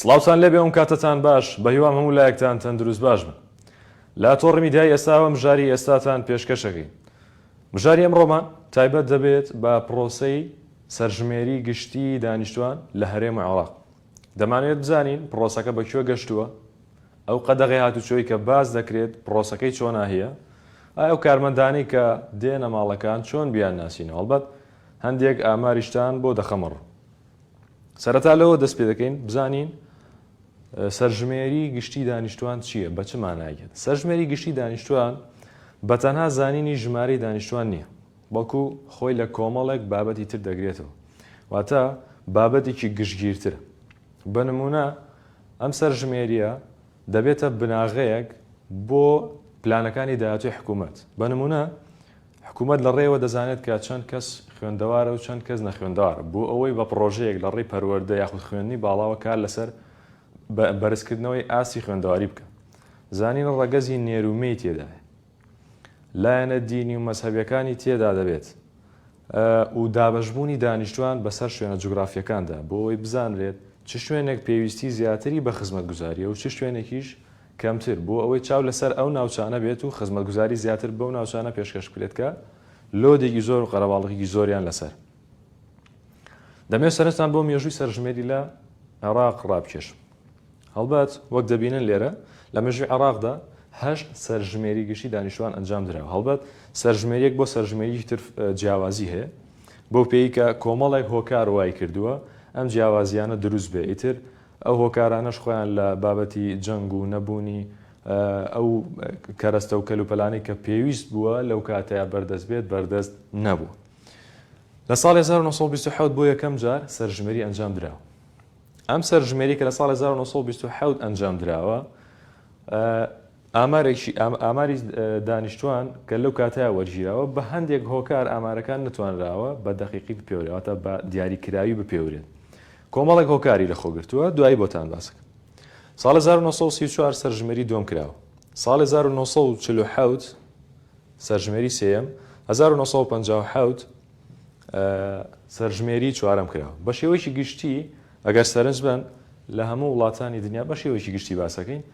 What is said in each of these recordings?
سڵاوتان لێبێ ئەوکاتەتان باش بەهیوام هەموو لایەکتان تەندروست باش بن لە تۆڕی میدیای ئێستاوە مژاری ئێستاتان پێشکەشەکەین مژاری ئەمڕۆمان تایبەت دەبێت بە پرۆسەی سەرژمێری گشتی دانیشتوان لە هەرێم عێراق دەمانوێت بزانین پرۆسەکە بە کوێ گەشتووە ئەو قەدەغی هاتوچۆی کە باز دەکرێت پرۆسەکەی چۆناهەیە ئایا و کارمەندانی کە دێنە ماڵەکان چۆن بیان ناسینەوە هەڵبەت هەندێک ئاماریشتان بۆ دەخەمەڕ سەرەتا لەوە دەست پێ دەکەین بزانین سەرژمێری گشتی دانیشتوان چییە بە چ مانایەت سەرژمێری گشتی دانیشتوان بە تەنها زانینی ژمارەی دانیشتوان نییە بەڵکو خۆی لە کۆمەڵێک بابەتی تر دەگرێتەوە واتە بابەتێکی گشتگیرترە بە نمونە ئەم سەرژمێریە دەبێتە بناغەیەک بۆ پلانەکانی داهاتوی حکوومەت بە نمونە حکوومەت لە ڕێیەوە دەزانێت کە چەند کەس خوێندەوارە و چەند کەس نەخوێندەوارە، بۆ ئەوەی بە پڕۆژەیەک لە ڕێی پەروەردە یاخود خوێندنی باڵاوە کار لەسەر بەرزکردنەوەی ئاستی خوێندەواری بکات. زانین ڕەگەزی نێر و مێی تێدایە. لایەنە دینی و مەزهەبیەکانی تێدا دەبێت و دابەشبوونی دانیشتوان بەسەر شوێنە جوگرافیەکاندا بۆ ئەوەی بزانرێت چ شوێنێک پێویستی زیاتری بە خزمەتگوزاریە و چ شوێنێکیش کەمتر، بۆ ئەوەی چاو لەسەر ئەو ناوچانە بێت و خزمەتگوزاری زیاتر بەو ناوچانە پێشکەش بکرێت کە لۆدێکی زۆر و قەرەباڵغیی زۆریان لەسەر دەمەوێت سەرنجتان بۆ مێژووی سەرژمێری لە عێراق ڕابکێشم. هەڵبەت وەک دەبینن لێرە لە مێژووی عێراقدا هەشت سەرژمێری گشتی دانیشتووان ئەنجام دراوە، هەڵبەت سەرژمێرییەک بۆ سەرژمێریی تر جیاوازی هەیە، بەو پێیی کە کۆمەڵێک هۆکار وایکردووە ئەم جیاوازییانە دروست بێت، ئیتر ئەو هۆکارانەش خۆیان لە بابەتی جەنگ و نەبوونی ئەو کەرەستە و کەلوپەلانەی کە پێویست بووە لەو کاتەیا بەردەست بێت، بەردەست نەبووە. لە ساڵی هەزار و نۆ سەد و بیست و حەوت بۆ یەکەم جار سەرژمێری ئەنجام دراوە. ئەم سەرژمێری کە لە ساڵی هەزار و نۆ سەد و بیست و حەوت ئەنجام دراوە، ئامارێکی ئاماری دانیشتوان کە لەو کاتەیا وەرگیراوە، بە هەندێک هۆکار ئامارەکان نەتوانراوە بە دەقیقی بپێورێت، واتە بە دیاری کراوی بپێورێت. کۆمەڵێک هۆکاری لە خۆ گرتووە، دوایی بۆتان باس ئەکەم. ساڵێ هەزار و نۆ سەد و سی و چوار سەرژمێری دووەم کراوە. ساڵێ هەزار و نۆ سەد و چل و حەوت سەرژمێری سێیەم، هەزار و نۆ سەد و پەنجا و حەوت سەرژمێری چوارەم کراوە. بە شێوەیەکی گشتی ئەگەر سەرنج بەن لە هەموو وڵاتانی دنیا بە شێوەیەکی گشتی باس ئەکەین.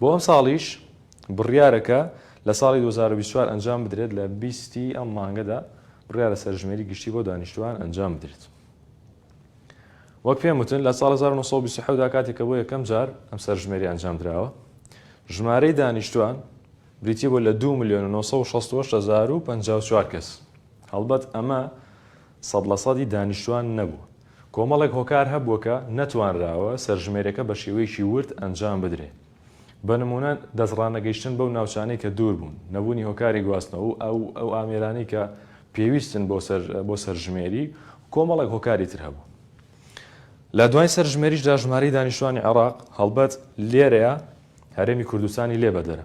بۆ ئەمساڵیش بڕیارەکە لە ساڵی دوو هەزار و بیست و چوار ئەنجام بدرێت، لە بیست ی ئەم مانگەدا بڕیارە سەرژمێری گشتی بۆ دانیشتووان ئەنجام بدرێت. وەک پێم وتن لە ساڵی هەزار و نۆ سەد و بیست و حەوت دا کاتێک کە بۆ یەکەم جار ئەم سەرژمێریە ئەنجام دراوە، ژمارەی دانیشتووان بریتی بوو لە دوو ملیۆن و نۆ سەد و شەست و هەشت هەزار و پەنجا و چوار کەس، هەڵبەت ئەمە سەد لە سەدی دانیشتوان نەبووە. کۆمەڵێک هۆکار هەبووە کە نەتوانراوە سەرژمێریەکە بە شێوەیەکی ورد ئەنجام بدرێ. بە نموونە دەست ڕانەگەیشتن بەو ناوچانەی کە دوور بوون، نەبوونی هۆکاری گواستنەوە و ئەو ئامێرانەی کە پێویستن بۆ سەرژمێری و کۆمەڵێک هۆکاری تر هەبوو. لە دوایین سەرژمێریشدا ژمارەی دانیشتوانی عێراق هەڵبەت لێرەیە هەرێمی کوردستانی لێ بەدەرە.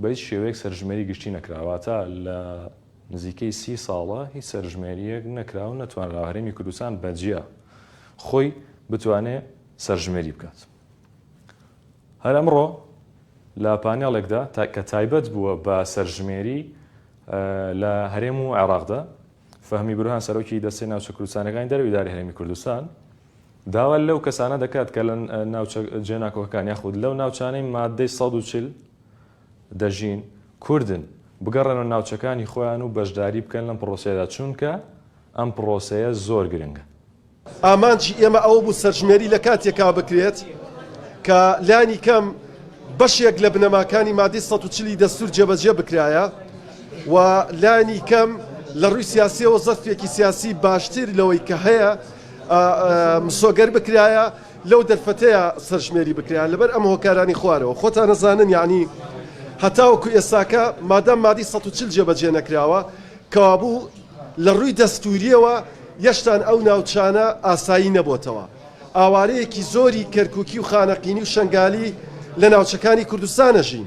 بە هیچ شێوەیەک سەرژمێری گشتی نەکرا، واتە لە نزیکەی سی ساڵە هیچ سەرژمێرییەک نەکرا و نەتوانرا هەرێمی کوردستان بە جیا خۆی بتوانێ سەرژمێری بکات. هەر ئەمڕۆ لە پانێڵێکدا کە تایبەت بووە بە سەرژمێری لە هەرێم و عێراقدا، فەهمی برهان سەرۆکی دەستەی ناوچە کوردستانەکانی دەرەوەی ئیدارەی هەرێمی کوردستان داوا لەو کەسانە دەکات کە لە ناوچە جێناکۆکەکان یاخود لەو ناوچانەی ماددەی سەد و چل دەژین، کوردن، بگەڕێنەوە ناوچەکانی خۆیان و بەشداری بکەن لەم پڕۆسەیەدا، چونکە ئەم پڕۆسەیە زۆر گرنگە. ئامانجی ئێمە ئەوە بوو سەرژمێری لە کاتێکا بکرێت کە لانی کەم بەشێک لە بنەماکانی مادەی سەد و چل ی دەستوور جێبەجێ بکرایە و لانی کەم لە ڕووی سیاسییەوە زەرفێکی سیاسی باشتر لەوەی کە هەیە مسۆگەر بکرایە. لەو دەرفەتەیا سەرژمێری بکرێا لەبەر ئەم هۆکارانی خوارەوە، خۆتان ئەزانن یەعنی هەتاوەکو ئێستاکە مادام مادەی سەد و چل جێبەجێ نەکراوە کەوابوو لە رووی دەستووریەوە یەشتان ئەو ناوچانە ئاسایی نەبۆتەوە ئاوارەیەکی زۆری کەرکووکی و خانەقینی و شەنگالی لە ناوچەکانی کوردستان ئەژین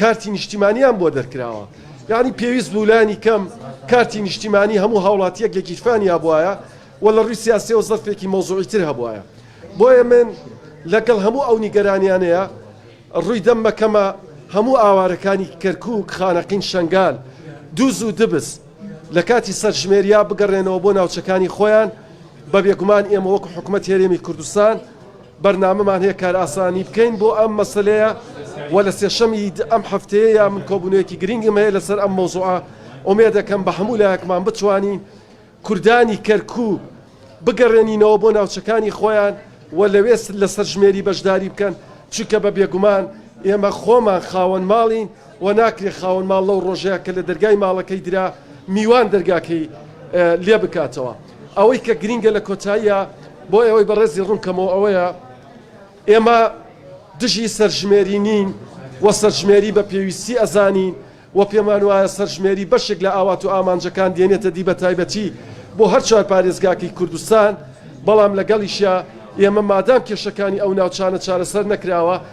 کارتی نیشتیمانیان بۆ دەرکراوە یانی پێویست بوو لانی کەم کارتی نیشتیمانی هەموو هاوڵاتیەک لە گیرفانیا بواە و لە ڕووی سیاسەوە زەرفێکی مۆزوعی تر هەبواە بۆیە من لەگەڵ هەموو ئەو نیگەرانیانەیە ڕووی دەم مەکەمە هەموو ئاوارەکانی کەرکک خانەقین شنگال دووز و دبس لە کاتی سەرژمێریا بگەڕێنەوە بۆ ناوچەکانی خۆیان بە بێگومان ئێمە وەکو حکوومەت هێرێمی کوردستان بەرنامەمان هەیە کارئاسانی بکەین بۆ ئەم مەسەلەیە و لە سێشەمی ئەم هەفتەیەیا من کۆبوونەوەیەکی گرینگم هەیە لەسەر ئەم مەوزوعە، ئومێدەکەم بە هەموو لایەکمان بتوانین کوردانی کەرکووک بگەڕێنینەوە بۆ ناوچەکانی خۆیان و لەوێ لە سەرژمێری بەشداری بکەن، چونکە بە بێگومان ئێمە خۆمان خاوەن ماڵین. وە ناکرێ خاوەن ماڵ لەو ڕۆژەیا کە لە دەرگای ماڵەکەی درا میوان دەرگاکەی لێ بکاتەوە. ئەوەی کە گرینگە لە کۆتاییا بۆ ئێوەی بەڕێزی ڕوون کەمەوە ئەوەیە ئێمە دژی سەرژمێری نین و سەرژمێری بە پێویستی ئەزانین و پێمان وایە سەرژمێری بەشێک لە ئاوات و ئامانجەکان دێنێتە دی بە تایبەتی بۆ هەر چوار پارێزگاکەی کوردستان بەڵام لەگەڵیشیا ئێمە مادام کێشەکانی ئەو ناوچانە چارەسەر نەکراوە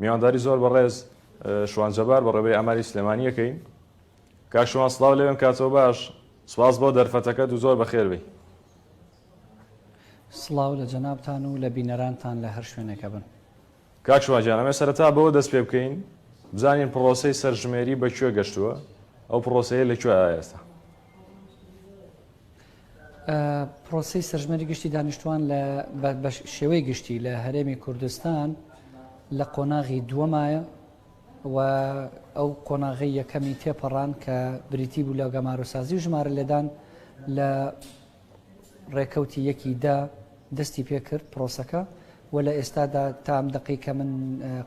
میوانداری زۆر بەڕێز شوان جەبار بەڕێوەبەری ئەماری سلێمانییەکەین. کاک شوان سڵاو لێوێم کاتۆ باش، سوپاس بۆ دەرفەتەکەت و زۆر بەخێر بێی. سڵاو لە جەنابتان و لە بینەرانتان لە هەر شوێنێکە بن. کاک شوان گیان ئەمەوێ سەرەتا بەوە دەست پێ بکەین بزانین پڕۆسەی سەرژمێری بە کوێ گەشتووە؟ ئەو پڕۆسەیە لە کوێ ئایە ئێستا؟ پرۆسی سەرژمەری گشتی دانیشتوان لە شێوەی گشتی لە هەرێمی کوردستان لە قۆناغی دووەمایە و ئەو قۆناغی یەکەمی تێپەڕان کە بریتی بوو لە گەمارۆسازی و ژمارە لێدان لە ڕێکەوتی یەکی دا دەستی پێکرد پرۆسەکە وە لە ئێستادا تا ئەم دەقەی کە من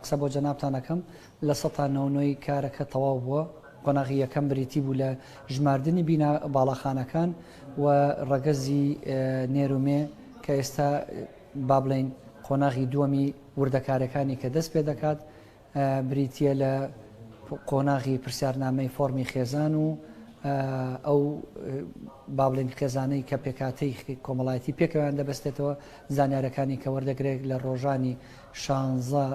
قسە بۆ جەنابتان ئەکەم لە سەتا نۆ نۆی کارەکە تەواو بووە، قۆناغی یەکەم بریتی بوو لە ژماردنی بینا باڵاخانەکان و ڕەگەزی نێر و مێ کە ئێستا با بڵێین قۆناغی دووەمی وردەکارەکانی کە دەست پێ دەکات بریتییە لە قۆناغی پرسیارنامەی فۆڕمی خێزان و ئەو با بڵێن خێزانەی کە پێکاتەی کۆمەڵایەتی پێکەوەیان دەبستێتەوە زانیارەکانی کە وەردەگرێت لە ڕۆژانی شانزە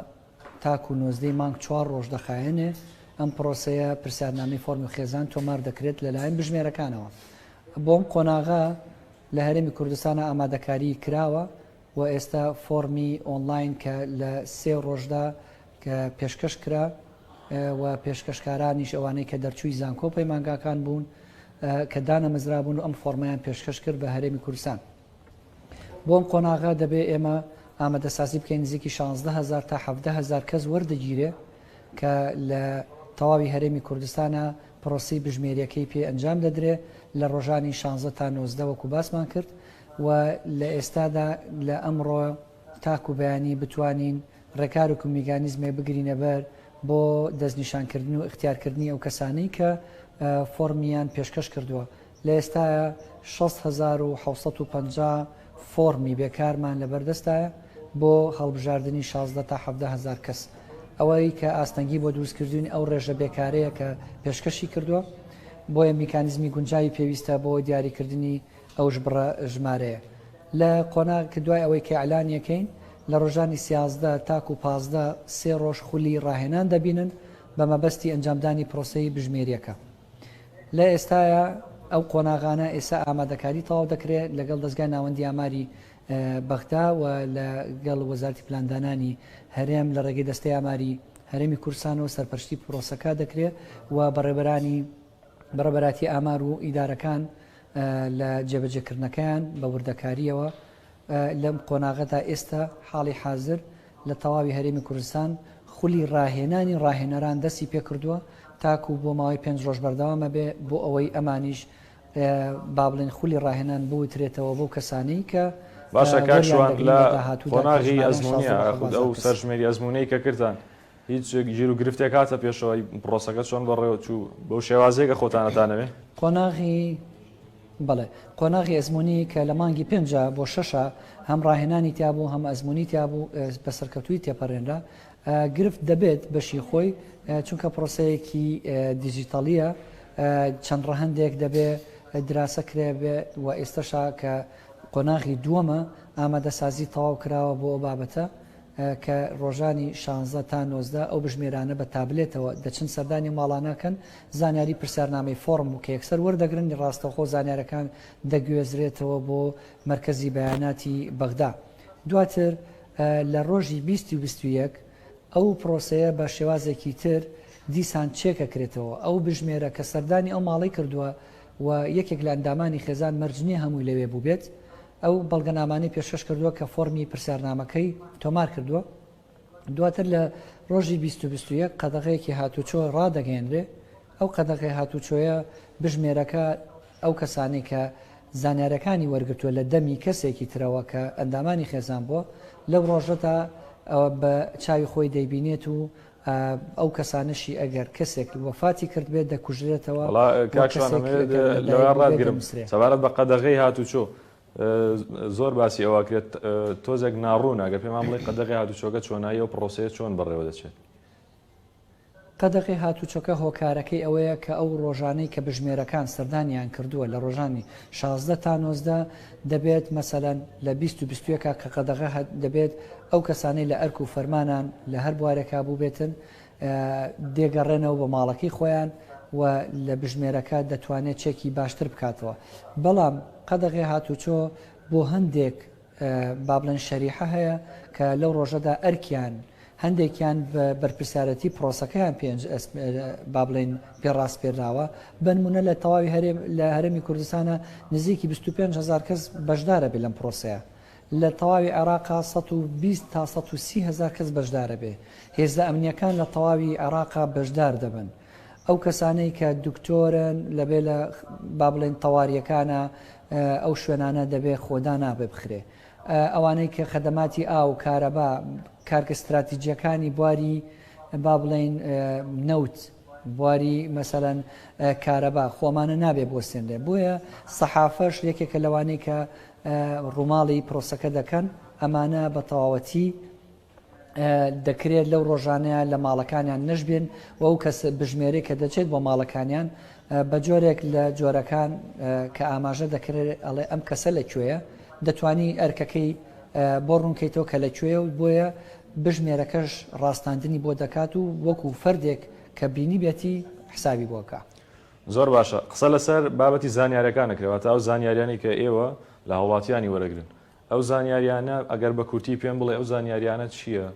تاکو نۆزدەی مانگ چوار ڕۆژ دەخایەنێ ئەم پرۆسەیە پرسیارنامەی فۆرمی خێزان تۆمار دەکرێت لەلایەن بژمێرەکانەوە بۆم قۆناغا لە هەرێمی کوردستانە ئامادەکاری کراوە وە ئێستا فۆڕمی ئۆنڵاین کە لە سێ ڕۆژدا کە پێشکەش کرا و پێشکەشکارانیش ئەوانەی کە دەرچووی زانکۆ پەیمانگاکان بوون کە دانەمەزرابوون و ئەم فۆڕمیان پێشکەش کرد بە هەرێمی کوردستان بۆم قۆناغە دەبێ ئێمە ئامادەسازی بکەین نزیکی 16 هزار تا 17 هزار کەس وەردەگیرێ کە لە تەواوی هەرێمی کوردستانە پرۆسەی بژمێریەکەی پێ ئەنجام دەدرێ لە رۆژانی شانزە تا نۆزدە وەکو باسمان کرد و لە ئێستادا لە ئەمڕۆ تاکو بەیانی بتوانین رێکار وکو میگانیزمێک بگرینە بەر بۆ دەستنیشان کردن و ئیختیار کردنی ئەو کەسانەی کە فۆڕمیان پێشکەش کردووە. لە ئێستایا شەست هەزار و حەوت سەد و پەنجا فۆڕمی بێکارمان لەبەردەستایە بۆ هەڵبژاردنی شازدە تا حەڤدە هەزار کەس، ئەوەی کە ئاستەنگی بۆ دروستکردوین ئەو رێژە بێکارەیە کە پێشکەشی کردوە، بۆیە میکانیزمی گونجاوی پێویستە بۆ دیاریکردنی ئەو بڕە ژمارەیە لە قۆناغ کە دوای ئەوەی کە ئیعلانیەکەین لە رۆژانی سیازدە تاکو پازدە سێ رۆژ خولی راهێنان دەبینن بە مەبەستی ئەنجامدانی پرۆسەی بژمێریەکە. لە ئێستایا ئەو قۆناغانە ئێستا ئامادەکاری تەواو دەکرێت لەگەڵ دەزگای ناوەندی ئاماری بەغدا و لەگەڵ وەزارتی پلاندانانی هەرێم لە ڕێگەی دەستەی ئاماری هەرێمی کورسانەوە سەرپەرشتی پرۆسەکە دەکرێت و بەڕێبەرانی بەڕێبەراتی ئامار و ئیدارەکان لە جێبەجێکردنەکەیان بە وردەکاریەوە لەم قۆناغەدا ئێستا حاڵی حاضر لە تەواوی هەرێمی کوردستان خولی ڕاهێنانی ڕاهێنەران دەستی پێکردووە تاکوو بۆ ماوەی پێنج ڕۆژ بەردەوام ئەبێ بۆ ئەوەی ئەمانیش با بڵێن خولی ڕاهێنان بوترێتەوە بۆ کەسانی کە باشە کاک شوان لە قۆناغی ئەزموونیە خود ئەو سەرژمێری ئەزموونەی کە کردتان هیچ گیر و گرفتێک هاتە پێشەوەی پڕۆسەکە چۆن بەڕێوەچوو بەو شێوازێکە خۆتانەتانەوێ قۆناغی بەڵێ قۆناغی ئەزموونی کە لە مانگی پێنجە بۆ شەشە هەم ڕاهێنانی تیابوو هەم ئەزموونی تیابوو بە سەرکەوتووی تێپەڕێنرا گرفت دەبێت بەشی خۆی چونکە پرۆسەیەکی دیجیتەڵیە چەند ڕەهندێک دەبێ دراسە کرێ بێ و ئێستەشا کە قۆناغی دووەمە ئامادەسازی تەواو کراوە بۆ ئەو بابەتە کە ڕۆژانی شانزە تا نۆزدە ئەو بژمێرانە بە تابلێتەوە دەچن سەردانی ئەو ماڵانە ئەکەن، زانیاری پرسیارنامەی فۆڕم و کە یەکسەر وەردەگرن ڕاستەوخۆ زانیارەکان دەگوێزرێتەوە بۆ مەرکەزی بەیاناتی بەغدا دواتر لە ڕۆژی بیست و بیست و یەک ئەو پڕۆسەیە بە شێوازێکی تر دیسان چێکەکرێتەوە ئەو بژمێرە کە سەردانی ئەو ماڵەی کردووە و یەکێک لە ئەندامانی خێزان مەرج نییە هەمووی لەوێ بووبێت ئەو بەڵگەنامانەی پێشکەش کردووە کە فۆڕمی پرسیارنامەکەی تۆمار کردووە، دواتر لە ڕۆژی بیست و بیست و یەک قەدەغەیەکی هاتووچۆ ڕادەگەیەنرێ، ئەو قەدەغەی هاتووچۆیە بژمێرەکە ئەو کەسانەی کە زانیاریەکانی وەرگرتووە لە دەمی کەسێکی ترەوە کە ئەندامانی خێزان بووە لەو ڕۆژەدا ئەوە بە چاوی خۆی دەیبینێت و ئەو کەسانەشی ئەگەر کەسێک وەفاتی کردبێت دەکوژرێتەوە وەڵا کاک شوان ئەمەوێت لەوێ ڕابگرم سەبارەت بە قەدەغەی هاتوچۆ زۆر باسی ئەوە کرێت تۆزێک ناڕوونە گە پێمان بڵی قەدەغی هاتوچۆگە چۆنایی و پرۆسەیە چۆن بەڕێوە دەچێت قەدەغی هاتوچۆکە هۆکارەکەی ئەوەیە کە ئەو ڕۆژانەی کە بژمێرەکان سەردانیان کردووە لە ڕۆژانی 16 تا 90 دەبێت مەسەلەن لە بیست و بیست و یەکا کە قەدەغە هەت دەبێت ئەو کەسانەی لە ئەرک و فەرمانان لە هەر بوارێکا بووبێتن دێگەڕێنەوە بە ماڵەکەی خۆیان و لە بژمێرەکە دەتوانێت چێکی باشتر بکاتەوە بەڵام قەدەغێ هاتوچۆ بۆ هەندێک بابلەن شەریحە هەیە کە لەو ڕۆژەدا ئەرکیان هەندێکیان بەرپرسیارەتی پرۆسەکەیان پێنج با بڵێن پێ ڕاسپێراوە بەنمونە لە تەواوی هەرێم لە هەرمی کوردستانە نزیکی 25 هزار کەس بەشدارە بێ لەم پرۆسەیە لە تەواوی عێراقا 120 تا 130 هزار کەس بەشدارە بێ هێزە ئەمنیەکان لە تەواوی عێراقا بەشدار دەبن ئەو کەسانەی کە دکتۆرن لەبێ لە با بڵێن تەواریەکانە ئەو شوێنانە دەبێ خۆدا نابێ بخرێ ئەوانەی کە خەدەماتی ئاو، کارەبا، کارگە ستراتیجییەکانی بواری با بڵێین نەوت، بواری مەسەلەن کارەبا خۆمانە نابێ بوەستێنرێ بۆیە سەحافەش یەکێکە لەوانەی کە ڕووماڵی پرۆسەکە دەکەن ئەمانە بە تەواوەتی دەکرێت لەو ڕۆژانەیە لە ماڵەکانیان نەشبێن و ئەو کەس بژمێری کە دەچێت بۆ ماڵەکانیان بە جۆرێک لە جۆرەکان کە ئاماژە دەکرێت ئەڵێ ئەم کەسە لە کوێیە دەتانی ئەرکەکەی بۆ ڕوونکەیتەوە کە لە کوێ و بۆیە بژمێرەکەش ڕاستاندنی بۆ دەکات و وەکو فەردێک کە بینی بێتی حسابی بۆکە. زۆر باشە قسە لەسەر بابەتی زانیارەکان نەکرێت واتە ئەو زانیاریانی کە ئێوە لە هاوڵاتیانی وەرەگرن ئەو زانیاریانە ئەگەر بە کورتی پێم بڵێ ئەو زانیاریانە چییە؟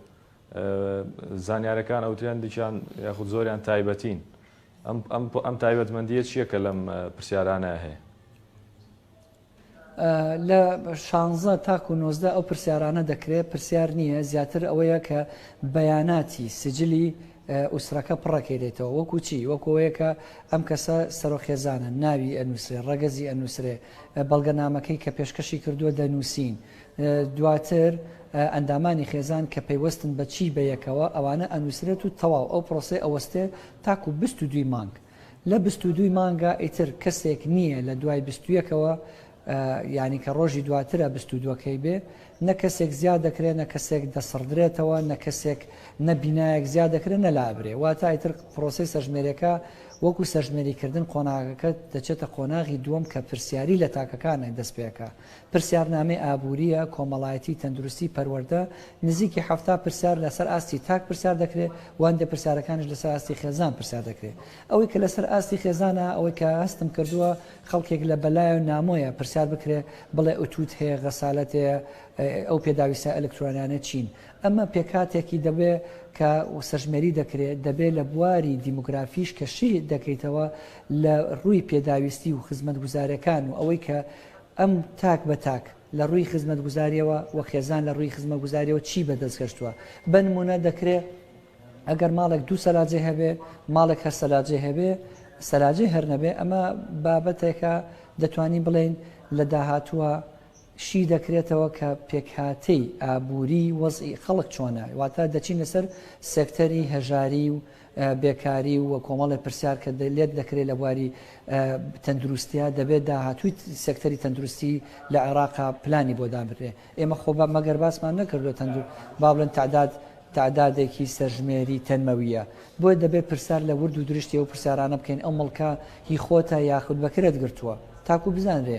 زانیارەکان ئەوترێن دیکیان یاخود زۆریان تایبەتین ئەم تایبەتمەندیە چییە کە لەم پرسیارانە هەیە؟ لە شانزە تاکو و نۆزدە ئەو پرسیارانە دەکرێت پرسیار نییە زیاتر ئەوەیە کە بەیاناتی سجلی ئوسرەکە پڕەکەێتەوە وەکو چی وەکۆیەکە ئەم کەسە سەرۆخێزانە ناوی ئەنووسێ ڕەگەزی ئەنووسێ بەڵگەنامەکەی کە پێشکەشی کردووە دەنووسین دواتر ئەندامانی خێزان کە پەیوەستن بە چی بە یەکەوە ئەوانە ئەنووسرێت و تەواو ئەو پرۆسەی ئەوەستێ تاکو بست و دوی مانگ لە بست و دوی مانگا ئیتر کەسێک نییە لە دوای بستویەکەوە یعنی کە ڕۆژی دواترە بست و دووەکەی بێ نە کەسێک زیاد دەکرێت نە کەسێک دەسڕدرێتەوە نە کەسێک نە بینایەک زیاد دەکرێت نە لابرێ واتایتر پرۆسی سەرژمێرەکە وەکو سەرژمێریکردن قۆناغەکە دەچێتە قۆناغی دووەم کە پرسیاری لە تاکەکانێ دەست پێکا، پرسیارنامەی ئابوورییە، کۆمەڵایەتی، تەندروستی، پەروەردە، نزیکی حەفتا پرسیار لەسەر ئاستی تاک پرسیار دەکرێ و هەندێ پرسیارەکانیش لەسەر ئاستی خێزان پرسیار دەکرێ، ئەوەی کە لەسەر ئاستی خێزانە ئەوەی کە هەستم کردووە خەڵکێک لە بەلایە و نامۆیە پرسیار بکرێ بڵێ ئوتووت هەیە غەسالەت هەیە ئەو پێداویستە ئەلکترۆنیانە چین؟ ئەمە پێکهاتێکی دەبێ کە سەرژمێری دەکرێ، دەبێ لە بواری دیمۆگرافیش کە شی دەکەیتەوە لە رووی پێداویستی و خزمەتگوزارەکان و ئەوەی کە ئەم تاک بە تاک لە رووی خزمەتگوزاریەوە و خێزان لە رووی خزمەتگوزاریەوە چی بە دەست گەشتوە. بە نموونە دەکرێ ئەگەر ماڵێک دوو سەلاجەی هەبێ، ماڵێک هەر سەلاجەی هەبێ، سەلاجەی هەر نەبێ، ئەمە بابەتێکە دەتوانین بڵێین لە داهاتووە، شی دەکرێتەوە کە پێکهاتەی ئابووریی وەزعی خەڵک چۆنە، واتە دەچینە سەر سێکتەری هەژاری و بێکاری و کۆمەڵێ پرسیار کە لێت دەکرێ لە بواری تەندروستیا دەبێت داهاتووی سێکتەری تەندروستی لە عێراقا پلانی بۆ دابرێ ئێمە خۆ بە مەگەر باسمان نەکردو تەندور با بڵێن تعداد تعدادێکی سەرژمێری تەنمەویە بۆیە دەبێت پرسیار لە ورد و درشتی ئەو پرسیارانە بکەین ئەو مڵکە هی خۆتە یاخود بەکرێت گرتووە تاکو بزانرێ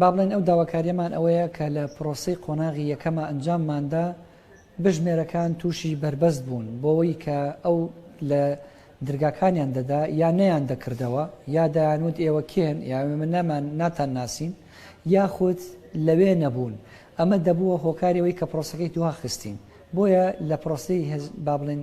با بڵێین ئەو داواکاریەمان ئەوەیە کە لە پرۆسەی قۆناغی یەکەما ئەنجامماندا بژمێرەکان تووشی بەربەست بوون بۆەوەی کە ئەو لە درگاکانیان دەدا یا نەیان دەکردەوە یا دایانوت ئێوە کێن یا من نامان ناتان ناسین یاخود لەوێ نەبوون ئەمە دەبووە هۆکارەوەی کە پرۆسەکەی دوها خستین بۆیە لە پرۆسی با بڵێن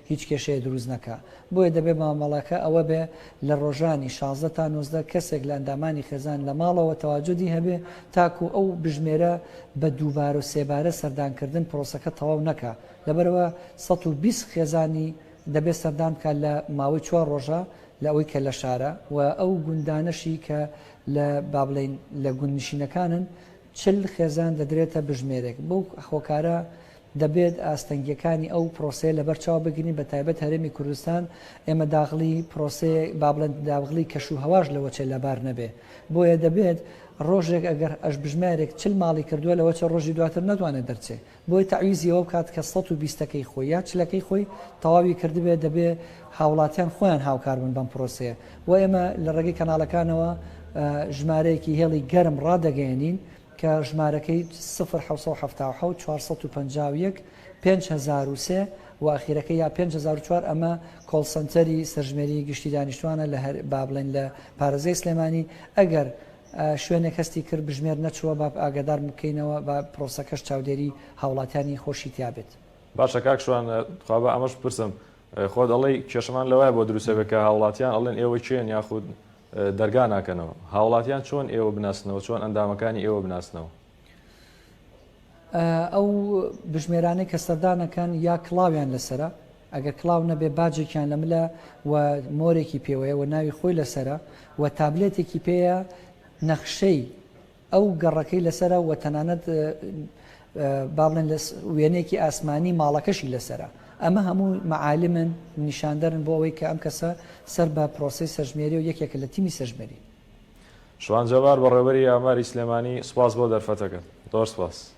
هیچ کێشەیە دروست نەکا بۆیە دەبێ مامەڵەکە ئەوە بێ لە ڕۆژانی شازدە تا نۆزدە کەسێک لە ئەندامانی خێزان لە ماڵەوە تەواجودی هەبێ تاکوو ئەو بژمێرە بە دووبارە و سێبارە سەردان کردن پرۆسەکە تەواو نەکا لەبەرئەوە سەد و بیست خێزانی دەبێ سەردان بکا لە ماوەی چوار ڕۆژە لە ئەوەی کە لە شارە و ئەو گوندانەشی کە لە با بڵێین لە گوندنشینەکانن چل خێزان دەدرێتە بژمێرێک، بەو هۆکارە دەبێت ئاستەنگییەکانی ئەو پرۆسەیە لەبەر چاو بگرین، بەتایبەت هەرێمی کوردستان ئێمە داغڵی پرۆسەیە با بڵێن داغڵی کەش و هەواش لە وەچێ لەبار نەبێ، بۆیە دەبێت ڕۆژێک ئەگەر ئەش بژمارێک چل ماڵی کردووە لە وەچە ڕۆژی دواتر نەتوانێ دەرچێ. بۆیە تەعویزی ئەوە بکات کە سەد و بیست ەکەی خۆی یا چل ەکەی خۆی تەواوی کردبێت، دەبێت هاوڵاتیان خۆیان هاوکار بن بەم پرۆسەیە و ئێمە لە ڕێگەی کەناڵەکانەوە ژمارەیەکی هێڵی گەرم ڕادەگەیەنین کە ژمارەکەی سفر حەوت سەد و حەفتا و حەوت چوار سەد و پەنجا و یەک پێنج هەزار و سێ و ئەخیرەکەی یا پێنج هەزار و چوار ئەمە کۆڵ سەنتەری سەرژمێری گشتی دانیشتوانە لە هەر با بڵێین لە پارێزگای سلێمانی ئەگەر شوێنێک هەستی کرد بژمێر نەچووە با ئاگادار بکەینەوە با پرۆسەکەش چاودێری هاوڵاتیانی خۆشی تیا بێت. باشە کاک شوان تخوا با ئەمەش بپرسم خۆت ئەڵێی کێشەمان لەوایە بۆ دروستە بێت کە هاوڵاتیان ئەڵێن ئێوە کێن یاخود دەرگا ناکەنەوە هاوڵاتیان چۆن ئێوە بناسنەوە چۆن ئەندامەکانی ئێوە بناسنەوە؟ ئەو بژمێرانەی کە سەردانەکەن یا کڵاویان لەسەرە ئەگەر کڵاو نەبێ باجێکیان لە ملە و مۆرێکی پێوەیە و ناوی خۆی لەسەرە و تابلێتێکی پێیە نەخشەی ئەو گەڕەکەی لەسەرە و تەنانەت با بڵێن لە وێنێکی ئاسمانی ماڵەکەشی لەسرە ئەمە هەموو معالمن نیشاندەرن بۆ ئەوەی کە ئەم کەسە سەر بە پرۆسی سەژمێری و یەکێکە لە تیمی سەژمێری شوان جەبار بەڕێوەبەری ئاماری سلێمانی سوپاس بۆ دەرفەتەکەت زۆر سوپاس.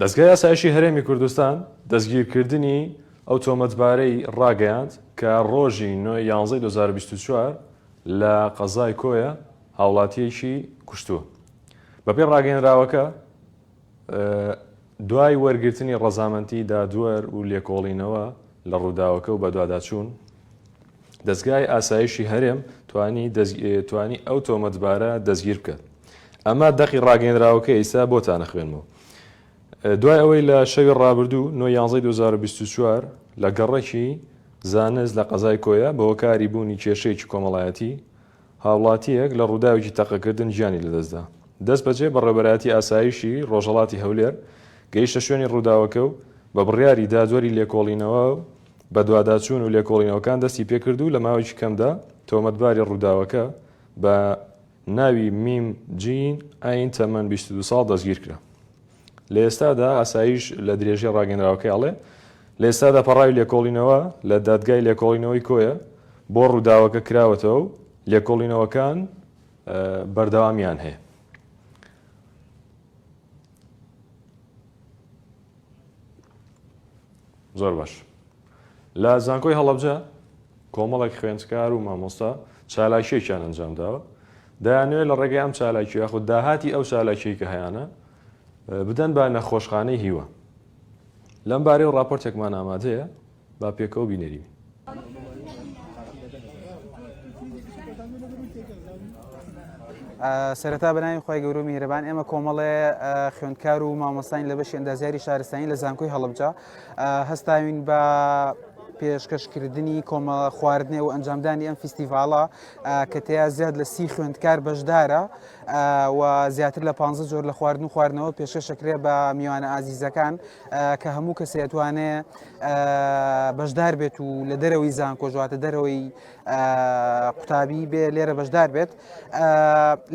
دەزگای ئاسایشی هەرێمی کوردستان دەستگیرکردنی ئەو تۆمەتبارەی ڕاگەیاند کە ڕۆژی نۆی یانزەی 2024 لە قەزای کۆیە هاوڵاتیەکی کوشتووە بەپێ ڕاگەێنراوەکە دوای وەرگرتنی ڕەزامەنتی دادوەر و لێکۆڵینەوە لە ڕووداوەکە و بەدواداچوون، دەزگای ئاسایشی هەرێم توانی ئەو تۆمەتبارە دەستگیر بکات. ئەمە دەقی ڕاگەیەنراوەکە ئێستا بۆتان ئەخوێنمەوە. دوای ئەوەی لە شەوی ڕابردوو، نۆ یانزەی دوو هەزار و بیست و چوار، لە گەڕەکی زانست لە قەزای کۆیە بەهۆکاری بوونی کێشەیەکی کۆمەڵایەتی، هاوڵاتییەک لە ڕووداوێکی تەقەکردن گیانی لەدەستدا. دەستبەجێ بەڕێوەبەرایەتی ئاسایشی ڕۆژهەڵاتی هەولێر گەیشتە شوێنی ڕووداوەکە و بە بڕیاری دادوەری لێکۆڵینەوە و بەدواداچوون و لێکۆڵینەوەکان دەستی پێکرد و لە ماوەیەکی کەمدا تۆمەتباری ڕووداوەکە بە ناوی میم جین ئاین تەمەن بیست و دوو ساڵ دەستگیرکرا. لە ئێستادا ئاسایش لە درێژەی ڕاگەنراوەکەی ئەڵێ، لە ئێستادا پەڕاوی لێکۆڵینەوە لە دادگای لێکۆڵینەوەی کۆیە بۆ ڕووداوەکە کراوەتەوە و لێکۆڵینەوەکان بەردەوامیان هەیە. زۆر باش. لە زانکۆی هەڵەبجە کۆمەڵێک خوێندکار و مامۆستا چالاکیەکیان ئەنجام داوە دەیانوێت لە ڕێگەی ئەم چالاکی یاخود داهاتی ئەو چالاکی کە هەیەە بدەن بە نەخۆشخانەی هیوە لەم بارەی و راپۆرتێکمان ئامادەیە با پێکەوە بینەری سەرەتا بەناوی خی گەورو میهرەبان ئێمە کۆمەڵێ خوێندکار و مامۆستانی لە بەشی ئەندازیاری شارستانی لە زانکۆی هەڵبجا هەستاوین بە پێشکەشکردنی کۆمەڵە خواردنێ و ئەنجامدانی ئەم فیستیڤالە کە تیا زیاد لە سی خوێندکار بەشدارە و زیاتر لە پ جۆر لە خواردن و خواردنەوە پێشکەشەکرێ بە میوانە ئازیزەکان کە هەموو کەسێتوانێ بەشدار بێت و لە دەرەوەی زان کۆژواتە دەرەوەی قوتابی بێ لێرە بەشدار بێت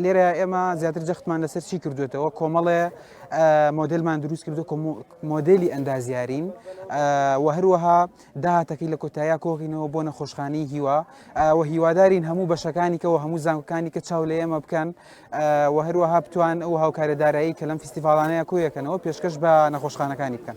لێرە ئێمە زیاتر جەختمان لەسەر چی کردوێتەوە کۆمەڵێ مۆدلمان دروست کردو مۆدێلی ئەندازیارین و هەروەها داهاتەکەی لە کۆتاییا کۆغینەوە بۆ نەخۆشخانەی هیوا و هیوادارین هەموو بەشەکانی کە و هەموو زانکەکانی کە چاو لە ئێمە بکەن و هەروەها بتوان ئەو هاوکارە دارایی کە لەم فیستیڤالانەیە کۆیەکەنەوە پێشکەش بە نەخۆشخانەکانی بکەن.